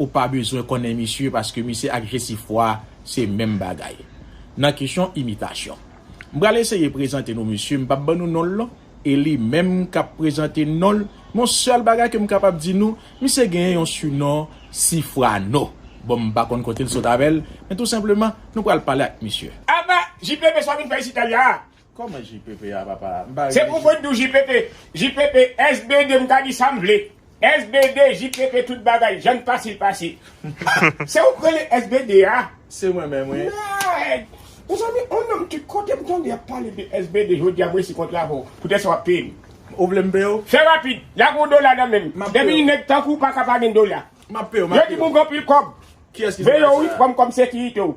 Ou pa bezwen konnen misye paske misye ak Jesifwa se menm bagay nan kesyon imitasyon. M pral eseye prezante nou misye, m pap ban nou non l non, e li menm k ap prezante non l, men yon sèl bagay ke m kapab di nou, misye genyen yon sinon Sifwano. Bon m pa konn kote l sot avè l, men tou senpleman nou pral pale ak misye. Apa! JPP sa w vin fè isit Talya? Koman JPP a papa? M pa Se pou mwen t di w JPP. JPP SBD m ka di sa m vle. SBD JPP tout bagay jan n pase l pase. Ah! Se ou k rele SBD a? Se mwen menm wi. Mèd! Mezanmi on nonm tout kote m tande y ap pale de SBD jodi a m resi kontre avè w. Poutèt sa w ap peye m. Ou vle m peye w? Fè rapid. La gen yon dola nan men m. Depi yon nèg tankou w pa ka pa gen dola. M ap peye w. Yo di m ou gen anpil kòb. Kiyès ki di w sa? Veye w wi pran m kòm sekirite w.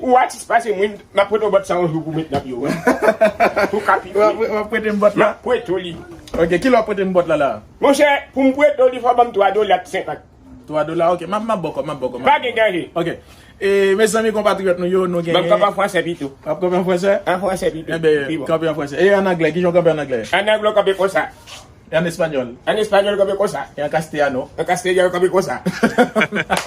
Ou atis pase mwen map prete w bòt sa yon jou pou met nan pye w wi pou ka pi fre. Wap prete m bòt la? Map prete w li. Ok kilè wap prete m bòt la la? Monchè pou m prete w li fò w ban m 3 dola ak 50. 3 dola ok map map ba w kòb map ba w kòb. Pa gen danje. Ok e mezanmi konpatriyòt nou yo nou gen. Ban m kòb an fransè pito. Wap kanpe an fransè? An fransè pito. Enben kanpe an fransè. E an anglè kijan w kanpe an anglè? An anglè w kanpe konsa. E an español? An español kanpe konsa. E an castellano? An castellano kanpe konsa.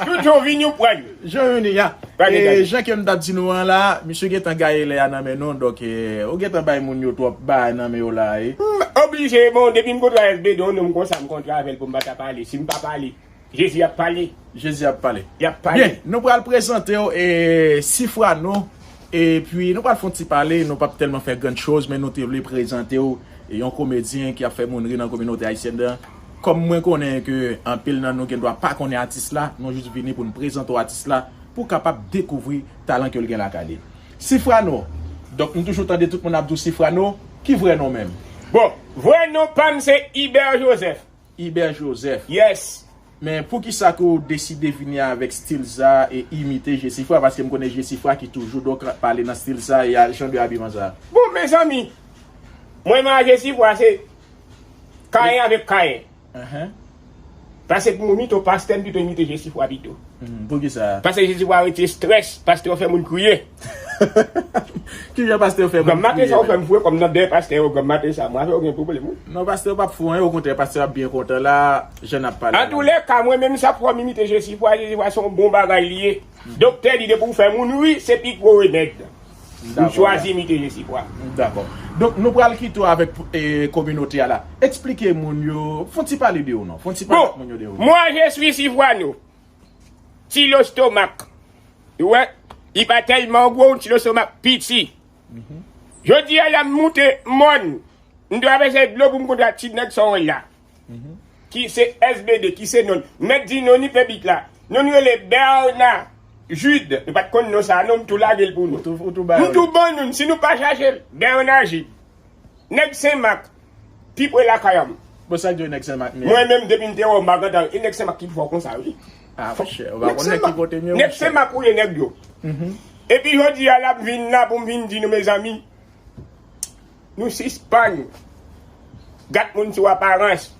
Tout yon vini yon pran yon. Jan yon ni a. Pa gen danje. E jan kem tap di nou an la, misye gentan gaye lè a nan men nou, donk ou gentan bay moun yo twòp bagay nan men yo la e. M oblije, bon depi m kontre avk Bedon, non m konsa, m kontre avèl pou m pa ta pale, si m pa pale, Jezi ap pale. Jezi ap pale. Li ap pale. Byen, nou pral prezante w e sifra nou e pi nou pral fon ti pale, nou pap tèlman fè grand choz men nou te vle prezante w yon komedyen ki ap fè moun ri nan kominote ayisyèn nan. Kòm mwen konnen ke anpil nan nou gen dwa pa konnen atis la, nou jis vini pou nou prezante w atis la pou w kapab dekouvri talan ke l gen lakay li. Sifrano, donk m toujou tande tout moun ap di w Sifrano, ki vrè non w menm? Bon, vrè non pa m se Ibert Joseph. Ibè Joseph. Yes! Men poukisa ke w deside vini avèk stil sa e imite Jesifra? Paske m konnen Jesifra ki toujou donk pale nan stil sa e jan de abiman sa. Bon mezanmi! Mwen menm a Jesifra se Kayen avèk Kayen. Pase pou moun ito pastè m pito imite Jesifra pito. Poukisa? Pase Jesifra retire stress, pastè w fè moun kriye. Kijan pastè fè moun kriye menm. Granmate sa ou fèm fou wi kòm nan dèy pastè yo granmate sa mwen avèw gen pwoblèm wi. Non pastè yo pap fou anyen okontrè pastè yo ap byen kontan la jan nap pale la. Antoulèka mwen menm sa fòm imite jesi fwa jesi fwa son bon bagay li ye doktè di depi ou fè moun ri se pi gwo remèd m chwazi imite jesi fwa. M dakò. Donk nou pral kite w avèk kominote a la. Eksplike moun yo, fon ti pale de ou non. Fon ti pale ak moun yo de ou non. Bon, mwa je suis Sifwano. Ti lostomak ou wè li pa tèlman gwo ti lostomak piti jodi a la m moute mòn m travèse dlo pou m kontre ak ti nèg Sorèl la ki se SBD ki se non l m mèt di non li fè bit la non l rele Bèna Jude nou pa t konn non sa a non m tou lage l pou nou m tou ban nou l si nou pa chache l Bèna Jude. Nèg senmak pi pre lakayanm. Bon sak gen nèg senmak menm. Mwen menm depim te wè w magantan e nèg senmak ki pi fò konsa wi. Ah mon chè ou pa konn nèg ki kotem yo mon chè. Nèg senmak ou ye nèg yo. Epi jodi a lap vin la poum vin di nou mezanmi nou sispann gat moun sou aparans.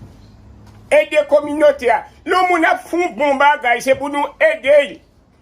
Ede kominote a. Lè yon moun ap fon bon bagay se pou nou edel.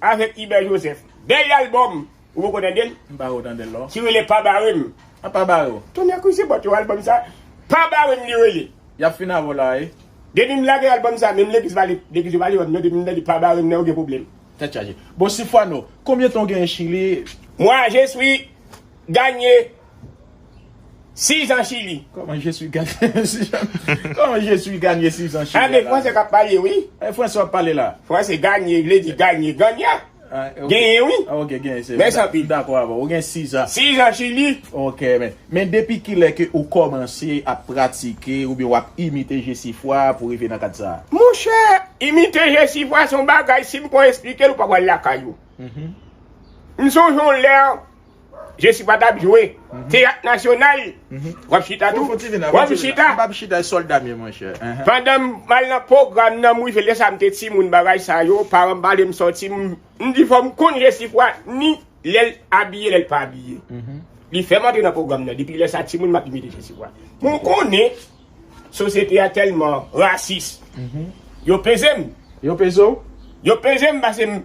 Avèk Hubert Joseph. Bèl album! Ou poko tande l? M pa wè w tande l non. Ki rele Pa Bare m. A pa bare w. Tonnè kouze bòt yo album sa Pa Bare m li rele. Y ap fin avè w la a e. Depi m lage album sa menm legliz pa legliz yo pa li wè m non depi m tande Pa Bare m nan yo gen pwoblèm. Tèt chaje. Bon Sifwano, konbyen tan w genyen Chili? Moi je suis gagné. 6 ans chili. Koman je suis ganye 6 ans. Koman je suis ganye 6 ans chili. Ah de fransè kap pale wi. E fransè wap pale la. Fransè ganye vle di ganye ganya. Genyen wi. Ah ok genyen se. Mèsi anpil. Dakò avèw. Ou gen 6 ans. 6 ans chili. Ok men. Men depi kilè ke ou kòmanse ap pratike oubyen wap imite jesifwa pou rive nan kad sa? Monchè imite jesifwa son bagay sim kon esplikew ou pa pral lakay ou. M sonje yon lè. Jesi pa tap jwe teyat nasyonal wap chita tou wap chita pandanm mal nan pwogram nan mwen lèsa mte timoun bagay sa yo paranm palem sòti mdi fòm konn jesifwa ni lèl abiye lèl pa abiye li fèm antre nan pwogram nan depi lèsa timoun map imite jesifwa mwen konnen sosyete a tèlman rasis yo pezem yo pezem pasem.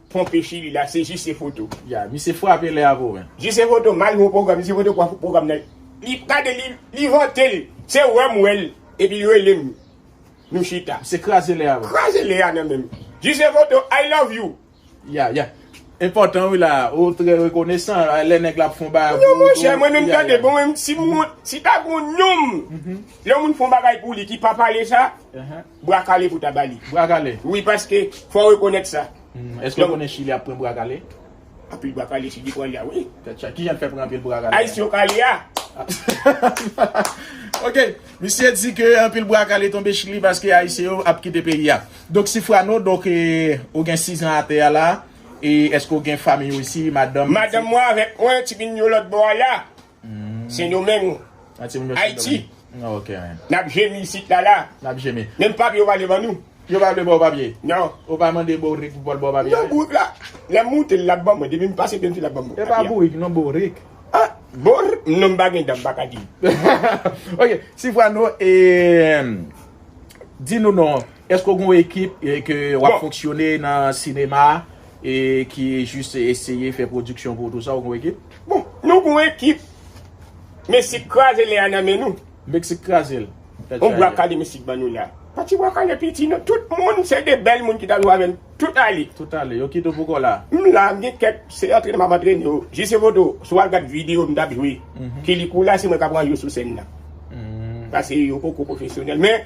Ponpe chili la se jise foto. Ya misye frape lè avo wen. Jise foto mal ho program jise foto kwa program nan li gade li li vantel se wè m wèl epi relem nou chita. Misye kraze lè a wen. Kraze lè a nan menm. Jise foto I love you. Ya ya enpòtan wi la ou trè rekonesan lè nèg la ap fon bagay pou ou tou. Non monchè mwen menm tande bon si ta gon nonm lè yon moun fon bagay pou li ki pa pale sa. bra kale pou ta bali. Bra kale? Wi paske fò rekonèt sa. Eske w konnen chili ap pran bra kale? Anpil bra kale chili pran la wi. Tèt chaje. Kijan l fè pran anpil bra kale? Ayisyen w kale a. Ok misye di ke anpil bra kale tonbe chili paske ayisyen yo ap kite peyi a. Donk sifrano donk ou gen 6 an atè a la e eske w gen fanmiy w isi madanm? Madanm mwen avèk mwen ti moun yo lòt bò a la. Sendomeng, Ayiti, n ap jemi isit la la. Menm papye yo pa vle ban nou. Yo pa vle ba w papye? Non. Ou pa mande bourik pou l ba w papye a? Non, bourik la, lè m monte l, l ap ban mwen. Depi m pase byen vit, l ap ban mwen papye a. E pa bourik non, bourik. A, bour? Non, m pa gen dan, m pa ka di. Ok, Sifrano, e, di nou non. Eske ou gen yon ekip ke wap fonksyone nan sinema e ki jis eseye fè pwodiksyon pou ou tout sa ou gen yon ekip? Bon nou gen yon ekip mesik kraze lè a nan men nou. Mesik kraze l. Yon bwa kale mesik ban nou lè a. Pa ti bwa kale piti non tout moun se de bèl moun ki ta jwe avè m tout ale. Tout ale yo kite w pou kò la. M la m gen kèk se antrene map antrene yo. Jise foto si w al gad video m tap jwe kilikou la se mwen kap ranj yo sou sèn nan. Pase yo poko pwofesyonèl men.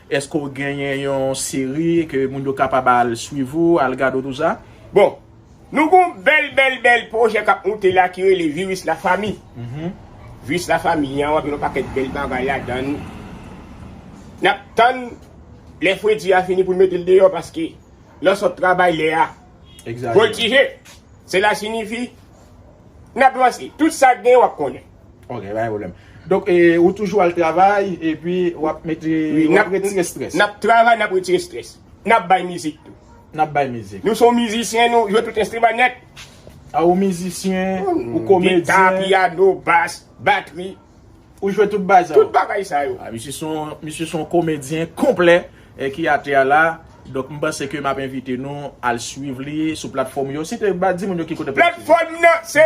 Eske w genyen yon seri ke moun yo kapab al swiv ou, al gade w tou sa? Bon, nou gen yon bèl bèl bèl pwojè k ap moute la ki rele Virus la Famille. Virus la Famille an w ap jwenn yon pakèt bèl bagay ladan l. N ap tann lè fredi a fini pou n mete l deyò paske lè w sot travay lè a voltije. Sela sinifi n ap vanse. Tout sa k gen w ap konnen. Ok pa gen problem. Donk ou toujou al travay epi wap mete wap retire stress. Nap travay nap retire stress. Nap bay mizik tou. Nap bay mizik. Nou se yon mizisyen nou jwe tout enstriman nèt. A ou mizisyen, ou komedyen. Gita, piyano, bas, batri. Ou jwe tout bagay sa yo. Tout bagay sa yo. A misye son misye son komedyen konplè ki atè a la. Donk m panse ke map envite nou al swiv li sou platfòm yo. Site ba di moun yo ki kote. Platfòm nan se.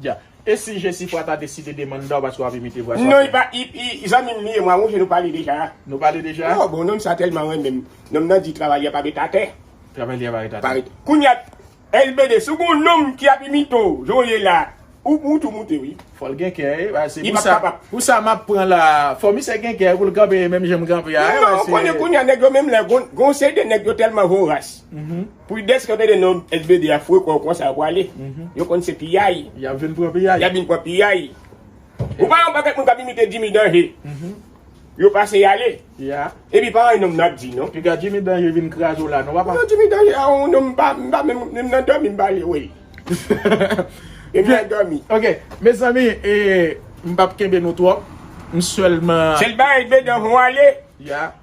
Dja. E si Jesifra ta deside demanda w paske wap imite vwa sa Non li pa zanmi m li ye mwen wonge nou pale deja. Nou pale deja? Oh bon nonm sa telman renmen m. Nonm nan di travail li pa ret atè. Travail li pa ret atè. Pa ret. Kounya LBD si w gon nonm ki ap imite w jan w ye la ou tou moute wi. Fòl gen kè e ba se pousa pousa map pran la fò misye gen kè poul kanpe menm janm kanpe a e ba se. Non ou konnen kounya nèg yo menm lè gon se de nèg yo tèlman voras. Prudence kanpe de non SBD a fwe kòw konsa yo pwale yo konn se piyay yap vin pran piyay yap vin pran piyay ou pa wè yon pakèt moun kap imite Jimmy danje yo pase yale epi pa anyn nonm nan ap di non piga Jimmy danje vin kraze w la non papa non Jimmy danje a yon nonm mpa mpa menm menm nan dòmi mpa vle wèl menm nan dòmi ok mezanmi ee mpap kenbe nou twòp m sèlman sèl bagay SBD an fon ale.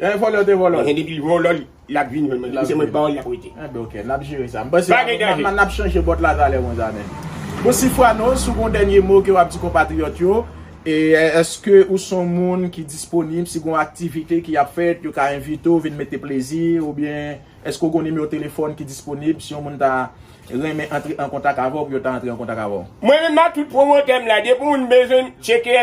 Eeh vòlò te vòlò. Eeh depi vòlò lap vin jwenn mwen se mwen kpawol lap rete. Eeh ok nap jere sa. Mpase nap chanje bòt la talè mwen zanmi. Bon Sifrano si w gon dènye mo ke wap di konpatriyòt yo e eske ou son moun ki disponib si gon aktivite ki ap fèt yo ka envite w vin mete plezi oubyen eske w gon nimewo telefòn ki disponib si yon moun ta renmen antre an kontak avè w pou yo ta antre an kontak avè w. Mwen menm ak tout pwomotè m la depi w moun bezwen m tcheke.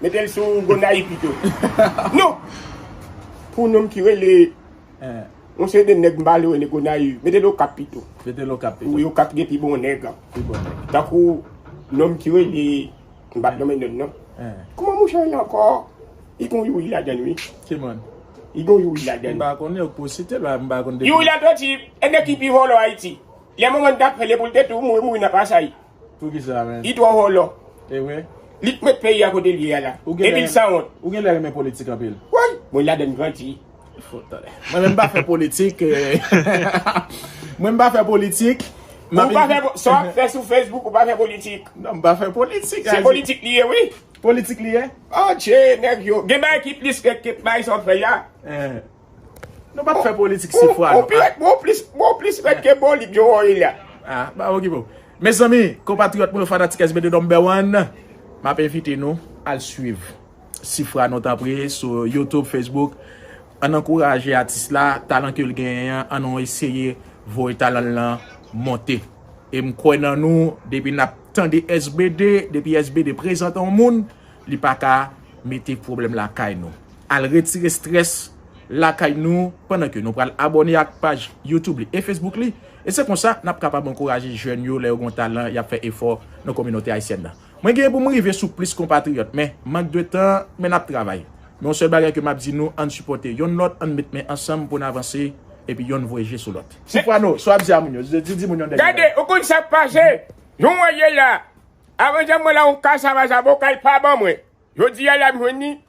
Mete l sou Gonayiv pito. Non! Pou nonm ki rele yon seri de nèg m pa vle rele Gonayiv, mete l Okap pito. Mete l Okap pito. Wi, Okap gen pi bon nèg. Pi bon nèg. Tankou nonm ki rele, m pa nonmen nonm nan. Kouman mouche rele ankò? Li gen yon Youri ladan l wi. Ki moun? Li gen yon Youri ladan l. M pa konnen, ou pou site l la, m pa konnen. Youri Latortue, e nèg ki pi vòlò Ayiti. Gen yon moman li t ap rele pou l te tou mouri nan pasaj. Li twò vòlò. Li k met peyi a kote l ye a la. Epi l sanwont. Woy! Mwen ladann grandi. Mwen menm m pa fè politik. Mwen m pa fè politik. Ou pa fè politik. Sa w ap fè sou Facebook ou pa fè politik. Non m pa fè politik. Se politik li ye wi. Politik li ye? Atche nèg yo. Gen bagay ki plis ke bay sa w ap fè la. Nou pap fè politik si fwa nou a. Mwen plis rèd ke bolik Joe Roy la. A, ba okipe w. Mezanmi, konpatriyòt mwen yo fanatik SB de Number One, m ap envite nou al swiv si fwa nou tanpri sou YouTube, Facebook. An n ankouraje atis la, talan ke l genyen an, an nou eseye voye talan l lan monte. E m kwè nan nou, depi n ap tande SB de, depi SB de prezante yon moun, li pa ka mete pwoblèm lakay nou. Al retire stress lakay nou pandan ke nou pral abone ak paj YouTube li e Facebook li e se konsa nap kapab ankouraje jèn yo lè yo gon talan yap fè efò nan kominote ayisyèn nan. Mwen genyen pou m rive sou plis konpatriyòt men mank de tan men nap travay men yon sèl bagay ke map di nou ann sipòte yonn lòt ann met men ansanm pou n avanse epi yonn voye je sou lòt. Ti pwano, sa wap di a moun yo, di di moun yon dènye bagay. Gade, ou konn sak pase, nou mwen ye la, avan jam mwen la yon kasava zaboka li pa ban mwen, jodi a la m jwenn li,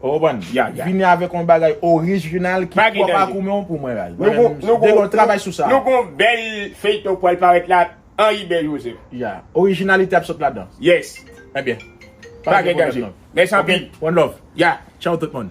Ou konprann? Vini avèk yon bagay orijinal ki pwòp ak ou menm pou mwen raz. Degol travay sou sa. Nou gen yon bèl feyton k pral parèt la Henri Bè Joseph. Ya. Orijinalite ap sot ladan. Yes. Ebyen. Pa gen danje. Mèsi anpil. One love. Ya. Tchaw tout moun.